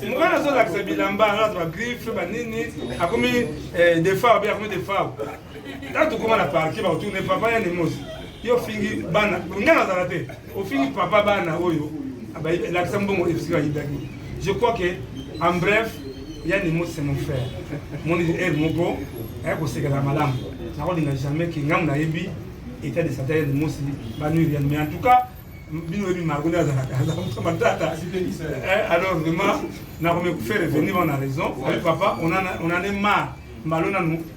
mokana azolakisa bilamba alata bagriffe banini akomi eh, defao be akomi defao ntango tokoma na parke bakotuna papa ya nemosi yo fingi bana ngai nazala te Ofini papa bana oyo lakisa mbongo esika ayibaki. Je crois que en bref yani mo c'est mon frère. Mon er moko aya kosekela malamu. Nakolinga jamais ke ngamu nayebi état de santé ya Mosi banuiri yani mais en tout cas bino oyebi margo nde azalaka azalaka matata eh, alors vraiment nakomi faire revenir on a raison papa on en est marre mbalo nanu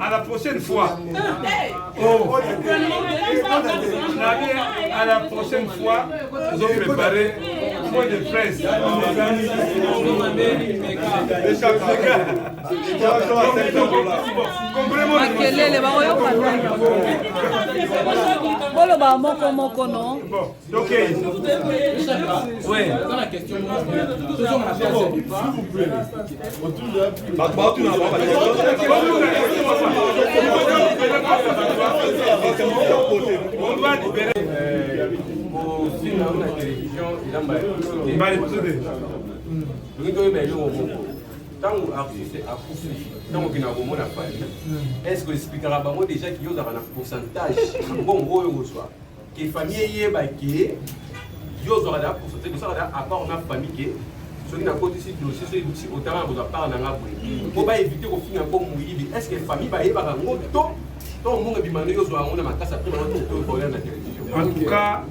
à la prochaine fois oh nabi à la prochaine fois tozo préparer point de presse makelele bakoyoka boloba moko moko no ntango artiste akufi ntango okenda komona fali est ce que esplikaka bango déjà kiyo ozalaka na pourcentage mbongo oyo ozwa ke famille eyeba ke yo ozwaka da poso te tosaka da apport na famille ke soki nakotisi dossier soki ebutisi otanga na kozwa part na nga boye mpo mm. baevite kofinga mpo moyibi est ce que famille bayebaka yango to to mbongo ebima ndenge ozwa yango na makasi apre bango tokoya na télévision en tout cas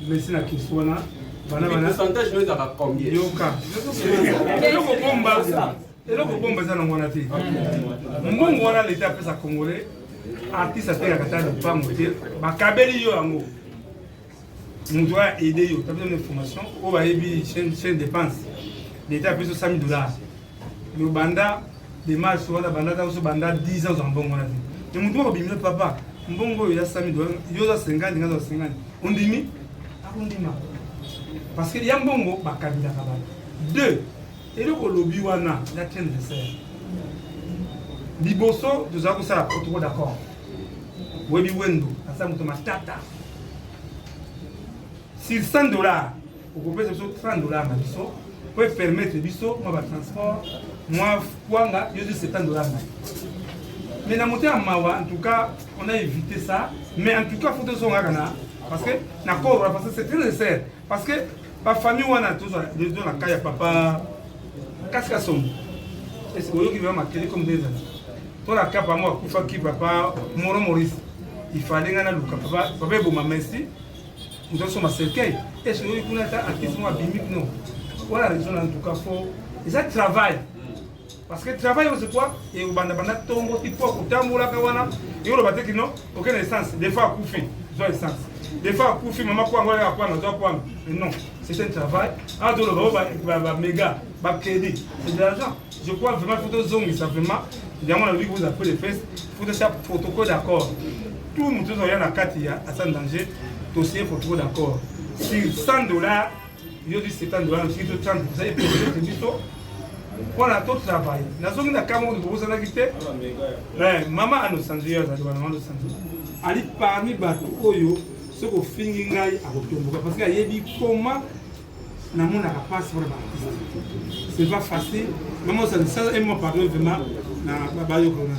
merci na kisi wana pourcentage no ezalaka combien yoka eloko bomba eza nango wana te mbongo wana leta apesa congolais artiste atengaka ta lopango te bakabeli yo yango moto oyo aide yo tabisa na information oyo bayebi chaine dépense leta apesa sami dollar me obanda demarche wana bandaka oso banda 10 ans ozwa mbongo wana te me moto moko bimile papa mbongo oyo ya sami dollar yo oza 50 nga oza 50 ondimi akondima parce que ya mbongo bakabelaka bato deux eloko olobi wana ya ken reser liboso tozala kosala protocole d'accord oyebi wendo aza moto matata sur 100 dollars okopesa biso 30 dollars na biso po epermettre biso mwa batransport mwa kwanga yo ezwi 70 dollars na mais na motema mawa en tout cas on a évité ça mais en tout cas faut tozongaka na parce que na kobra parce que c'est très nécessaire Parce que ba famille wana tozo tozo na kaya papa kasika somo. Est-ce que oyoki vraiment makele comme des amis? To la kapa moi kufa ki papa Moro Maurice. Il fallait ngana luka papa papa eboma merci. Nous sommes à cercueil. Est-ce que oyoki kuna ta artiste moi bimi non. Voilà raison en tout cas faut. Ils travail. Parce que travail oyo c'est quoi? Et au banda banda tongo ti po kotambola ka wana. Et oloba te kino aucun essence. Des fois akufi, zo essence. Des fois akufi mama kwa ngwa ya kwa na zo kwa. Mais non, c'est un travail. Ah dolo oh, ba ba ba méga, ba crédit. C'est de l'argent. Je crois vraiment faut to zongi ça vraiment. Yango na vous appelez les fesses, faut to faire protocole d'accord. Tout mutu zo ya na kati ya asan danger. Dossier protocole d'accord. Sur 100 dollars yo di septembre wana soki to chance eza eprojete biso mpona to travail nazongi na kama oyo bozalaki te mama anosanzo yo azali wana anosanzo ali parmi bato oyo soki ofingi ngai akotomboka parce que ayebi koma namonaka mpasi mpona baartiste c'est pas facile mama osanzo sala un mois pardon vraiment na bayokolona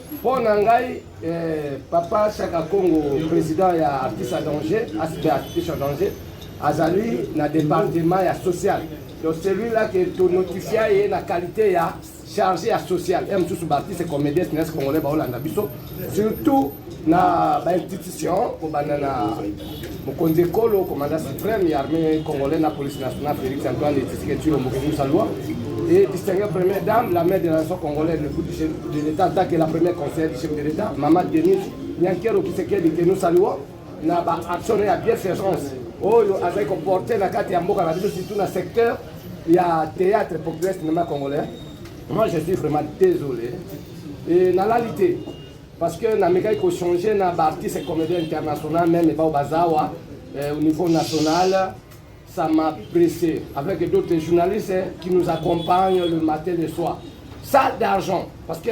Mpo na ngai eh, papa Shaka Kongo président ya artiste à danger aspect artiste à danger azali na département ya social donc celui-là que tonotifia ye na qualité ya chargé ya social ya mosusu baartiste comédien sinese congolais baolanda biso surtout na bainstitution kobanda na Mokonzi ekolo commandant supreme ya armée congolais na police nationale Félix Antoine Tshisekedi Tshilombo Kebusa Loi et distinguée première dame, la mère de la nation congolaise, le bout de l'État, tant que la première conseillère du chef de l'État, Maman Denise Nyankero Kisekedi, que nous saluons, na ba action ya bienfaisance oyo azali koporte na kati ya mboka na biso surtout na secteur ya théâtre populaire cinéma congolais moi je suis vraiment désolé et nalali te Parce que na mekaki ko changer na ba artistes comédiens internationaux même ba bazawa euh, au niveau national ça m'a pressé avec d'autres journalistes hein, qui nous accompagnent le matin le soir. Ça d'argent parce que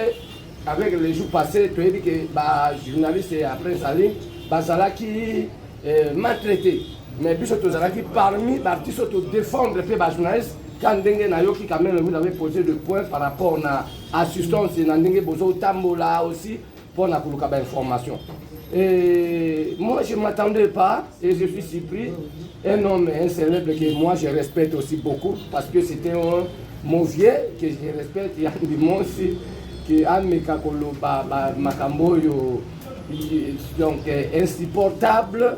avec les jours passés tu as dit que ba journalistes et après ça ligne bazala qui euh, maltraité mais biso tozalaki parmi baartiste oyo todefendre mpe bajournaliste ka ndenge nayoki kameme mino avait posé de point par rapport na assistance na ndenge bozo tambola aussi pour na kuluka ba information et moi je m'attendais pas et je suis surpris un homme un célèbre que moi je respecte aussi beaucoup parce que c'était un mon vieux que je respecte ya ndimosi que ameka koloba makambo oyo donc insupportable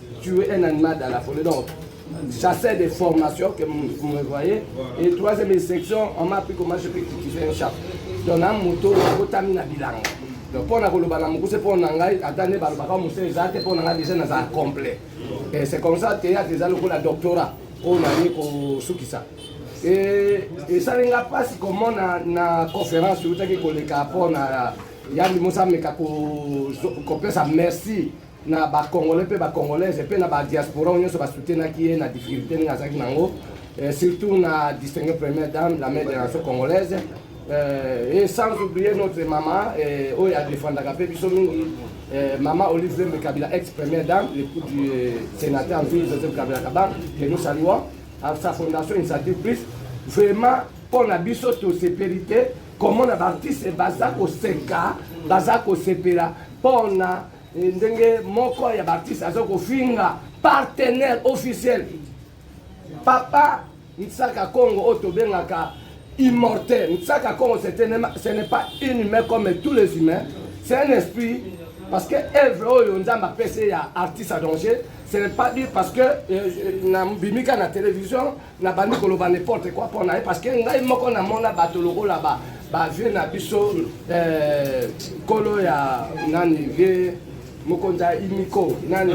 Tu es un animal dans la folie donc chasseur de formation que vous me voyez et troisième section on m'a appris comment je peux cultiver un chat donc na moto akotami na bilanga donc mpo na koloba na mokuse mpo na ngai ata nde balobaka mosala eza te mpo na ngai deja naza complet et c'est comme ça théâtre eza lokola doctorat oyo naye kosukisa esali nga mpasi komona na conférence eutaki koleka mpo na yandi mosameka kopesa merci na ba congolais mpe ba congolaise mpe na ba diaspora oyo nyonso basutenaki ye na difficulté ndenge azalaki na yango euh, surtout na distingue première dame la mère de la nation congolaise euh, et sans oublier notre mama euh, oyo adefendaka mpe biso mingi mama olive lembe kabila ex première dame l'époux du sénateur nzui joseph kabila kaba que nous saluons à sa fondation initiative plus vraiment mpo na biso tosepeli te komona baartiste baza koseka baza kosepela mpo na Eh, ndenge moko ya baartiste aza kofinga partenaire officiel papa nsaka congo oyo tobengaka immortel nsaka congo ce n'est pas une humain comme tous les humains c'est un esprit parce que evre oyo nzambe apesi ya artiste à danger ce n'est pas dit parce que euh, euh, nabimika na télévision Na bandi koloba n'importe quoi pona ye parce que ngai moko na mona bato lokola ba ba vieux na biso euh, kolo ya nani vieux mokonzi ya imiko nani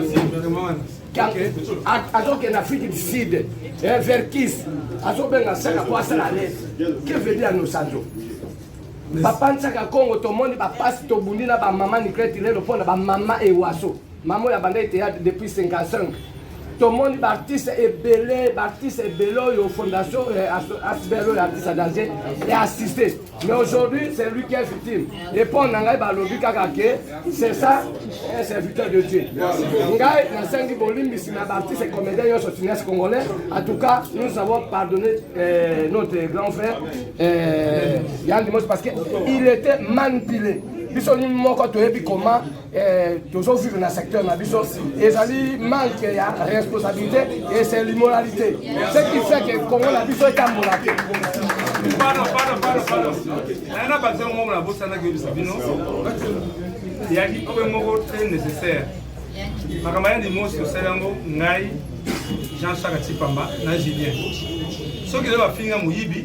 azokende afrique du sud eh, vers kis azobenga saka po asala lete que veut dire nosanzo bapanisaka congo tomoni bapasi tobundi na bamama nikleti lelo mpo na bamama ewaso Mama oyo abandaki théâtre depuis 55 tomoni baartiste ebele baartiste ebele oyo fondation eh, asbel oyo artiste danger e assiste mais aujourd'hui c'est lui qui est victime epo na ngai balobi kaka ke c'est ça un serviteur de dieu ngai nasengi bolimbisi na baartiste comédien nyonso cinéaste congolais en tout cas nous avons pardonné euh, notre grand frère euh, yann dimos parce que il était manipulé biso moko toyebi comment Eh, tozo vivre na secteur na biso ezali manque ya responsabilité et c'est l'immoralité ce qui fait que congo na biso etambola te nana baza moko na bosanaki oyebisa bino eyaki oyo moko très nécessaire makambo ya limosi osali yango ngai jean charles tipamba na julien soki lelo bafinga moyibi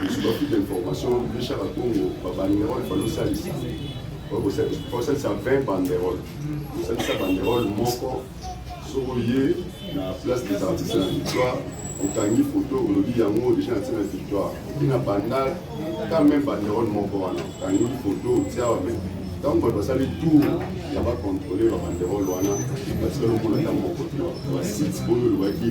biso bafi de information bicha na congo babanderole balosalisa osalisa 20 banderole osalisa banderole moko soki oye na place des artistes na victoire okangi foto olobi yango deja natie na victoire oki na bandal ta meme banderole moko wana okangi foto otia wame ntango bato basali tour ya bacontrole babanderole wana batikali omona ntango moko basite oyo olobaki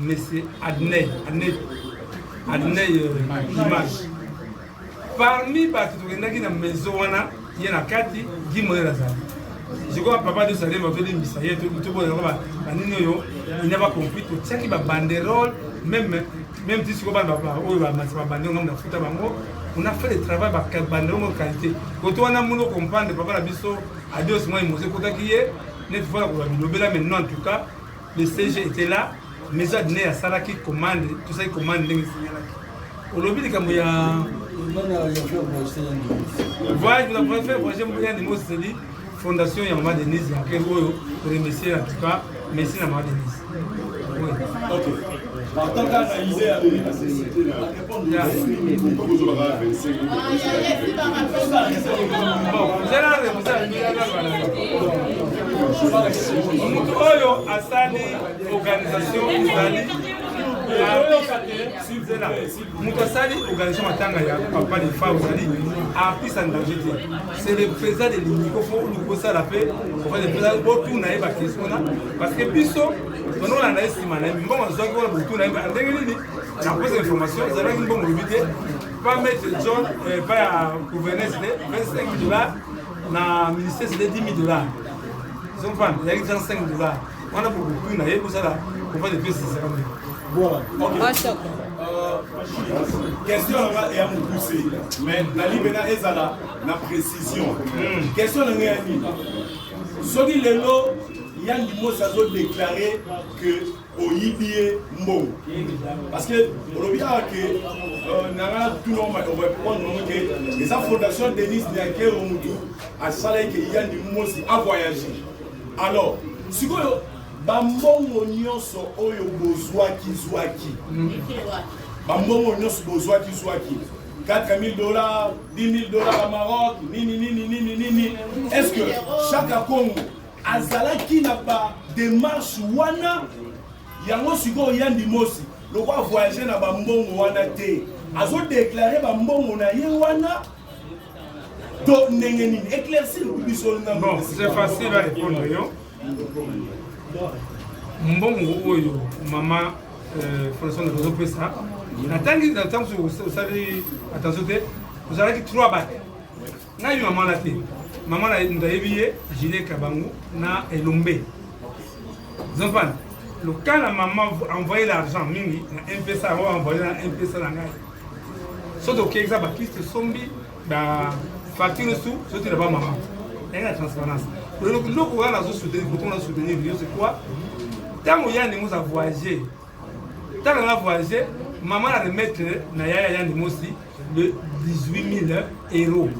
mais c'est Adney, Adney, Adney euh, image. Parmi bato tokendaki na maison wana ye na kati Guy Moyen azali. Je crois papa de Salem azolimbisa ye toboyaka banini oyo il n'a pas compris totiaki ba banderole même même ti sikoyo bana oyo bamati babande ngambo nafuta bango on a fait le travail banderole moko qualité koto wana mono comprendre papa na biso adios moi mose ekotaki ye neti fala koloba bilobela maintenant en tout cas Le CG était là, maison adine ya salaki commande, tout ça commande ndenge signalaki. Olobi likambo ya voyage vous avez fait voyager mbuya ni moseli fondation ya maman Denise ya kero oyo pour remercier en tout cas merci na maman Denise. Oui. OK. Partant analyser à la société là. moto oyo asali organisation ezali moto asali organisation matanga ya papa de fa ozali artiste en danger te c'est le président de l'unico fo oluki osala mpe botuna ye bakestion wana parce que biso tonolanda ye nsima na ye mbongo azwaki wana botuna ye ndenge nini napesa information ezalaki mbongo lobi te pa maitre john eh, pa ya gouvernance te 25 dollars na ministère sede 10 000 dollars zompana ezalaki 35 dollars wana bokokui na ye kosala kofa de pesi esakambe question nanga eya mokuse mais nalibela ezala na précision hmm. question nanga ya nini soki lelo yandi mosi azodeklare que oyibi ye mbongo parce que olobi awa ke euh, nanga tuna omarepondre ke eza fondation denise niakero mutu asalaki ke yandi mosi avoyage alors sikoyo bambongo nyonso oyo bozwaki zwaki bambongo nyonso bozwaki zwaki 4000 dollars 10 000 dollars ya maroc nini nini nini nini est ce que chaque akongo azalaki na ba demarche wana yango sikoyo ya ndimosi lokola voyage na bambongo wana te azodeklare bambongo na ye wana to ndenge nini éclaircir biso nango c'est facile à répondre yo mbongo oyo mama euh, françois nazopesa natangi natangi osali attention te ozalaki 3 bate nayebi mama wana te mama nayebi ye gilet kabangu na elombe zompana lokala mama envoye l'argent mingi na mpesa yango envoye na mpesa na ngai so tokekisa bakiste sombi bafacture su sotela ba mama yangi na transparence eloko wana nazosoutenir koto nazosoutenir yo c'est quoi ntango ya ndenge oza voyage Tala na voyage maman a remettre na yaya yandi mosi de 18000 euros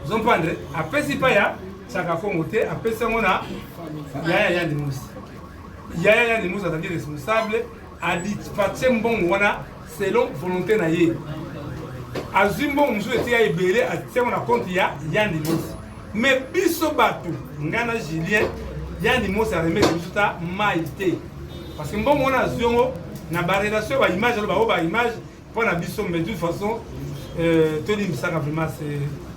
zompandre apesi pa ya saka kongo te apesi yango na yaya yandi mosi yaya yandi mosi azali responsable adipatie mbongo wana selon volonté na ye azwi mbongo mosusu ete ya ebele atiango na konte ya yandi mosi me biso bato ngai na julien yandi mosi aremete biso ta mai te parce que mbongo wana azwi yango na barelation ya baimage alo bango baimage mpo na biso mais de toute façon euh, tolimbisaka vraiment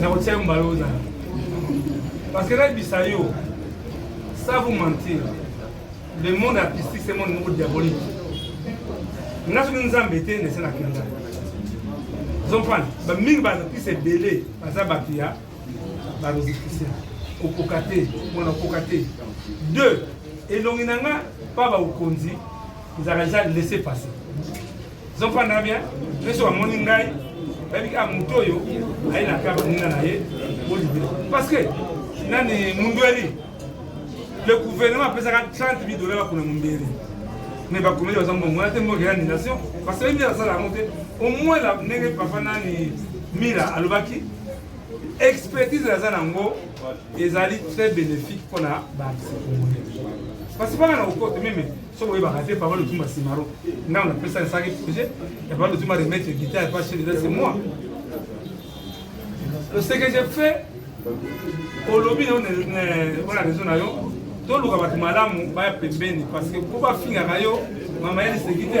nakotia yo mbala oza parce que nayebisa yo ça vous mentir le monde artistique c'est monde moko diabolique nga soki nzambe te nese nakenda zomprane bamingi baartiste ebele baza bato ya bamusicien okoka te mwana okoka te deux elongi na nga mpa baokonzi ezalaka eza laisse passer zofanda bien nyonso bamoni ngai bayebi kaka moto oyo aye na kaka baninga na ye olibe parce que nani mundweli le gouvernement apesaka 30 mille dollars bakona mundweli mais bakomeli baza mbongo wana te mboka ya annulation parce que bayebi asala yango te au moins la ndenge papa nani mila alobaki expertise aza nango ezali très bénéfique mpona baartiste congolais parce que banga na kokote meme soki oyebaka te papa lotuma simaro ngai napesa esaki projet ya papa lotuma remettre guitare pa chef d'état c'est moi le ce que j'ai fait olobi na wana raison na yo toluka bato malamu baya pembeni parce que mpo bafingaka yo mama ya liseki te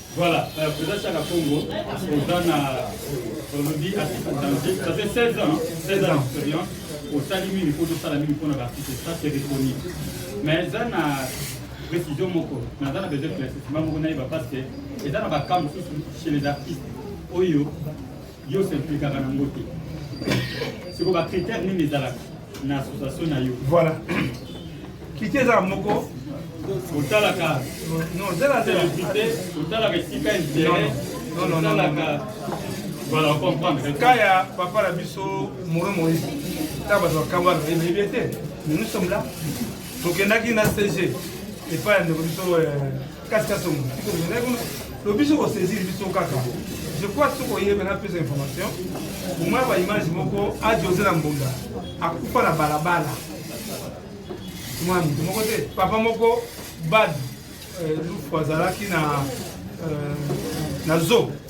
Voilà, euh, Président Chaka Congo, oza na olobi artiste en danger, ça fait 16 ans, 16 ans d'expérience, osali mingi mpo tosala mingi mpo na baartiste, ça c'est reconnu. Mais eza na précision moko, naza na besoin claircissement moko nayeba parce que eza na bakamp mosusu chez les artistes oyo Yo se implikaka na ngo te. Siko ba critères nini ezalaka na association na yo? Voilà. Critère ezala moko otalaka non zela zela otalaka esika intérêt non non non voilà on comprendre cas ya papa na biso moro moïse ta bato bakamba ebebi ete nous sommes là tokendaki na cg epai ya ndeko biso euh, kati kati ya motu tiko mizalaki kuna to biso kosaisir biso kaka je crois soki oyebe na pesa information omona ba image moko ajose na mbunda akufa na balabala mwana moto moko te papa moko bad euh, lufu azalaki na euh, na zoo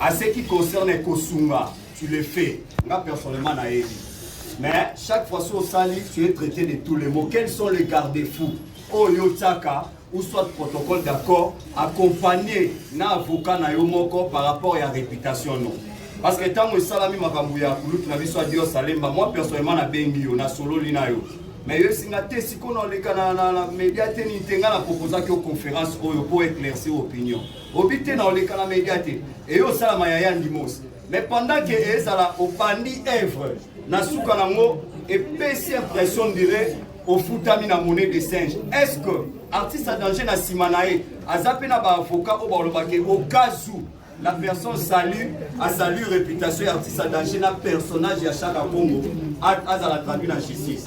A ce qui concerne kosunga, tu le fais. Nga personnellement na yebi. Mais chaque fois sur sali, tu es traité de tous les mots. Quels sont les garde-fous Oyo tsaka ou soit protocole d'accord accompagné na avocat na yo moko par rapport ya réputation non. Parce que tango esalami makambo ya kulutu na biso adio salemba, moi personnellement na bengi yo na sololi na yo. Mais yo singa te sikoyo na leka na na media te ni tenga na proposaki yo conférence oyo pour éclaircir opinion. Bobi te na oleka na media te. Et yo sala ma yaya ndimos. Mais pendant que ezala obandi œuvre na suka nango et pesi impression dirait ofutami na monnaie de singe. Est-ce que artiste à danger na sima na ye aza pe na ba avocat au baloba ke au cas où la personne salue a salue réputation ya artiste à danger na personnage ya Chaka Congo azala traduit na justice.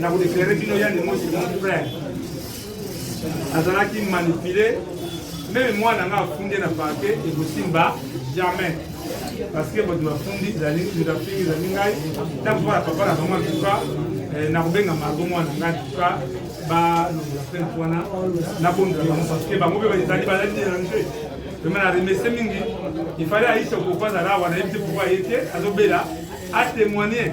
Na ko éclairer bino ya ndemo c'est mon frère. Azalaki manipuler meme mwana nga afundi na parquet ekosimba jamais parce que bato bafundi ezali moto afingi ezali ngai ntango mpo na papa na bango antuka eh, nakobenga margo mwana ngai antuka balongola plainte wana nabondela bango parce que bango mpe ezali bazali dérange vraimen na remercie mingi ifale aisha kokoazala wana yebi te pourkoi aye te azobela atémoigne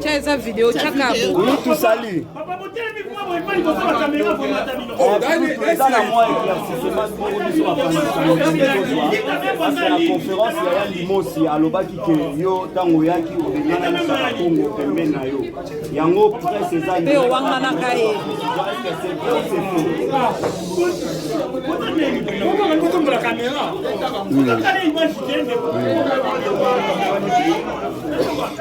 Tia eza video tia kabo. Mutu sali. Papa botelemi kuma boye pali ko sala kamera ko mata bino. O dani eza na mwa éclaircissement pour biso ba la conférence ya Yandi Mosi alobaki ke yo tango yaki obengana na sala Kongo pembeni na yo. Yango presse eza yo. Yo wangana kaye. Kamera. Kamera.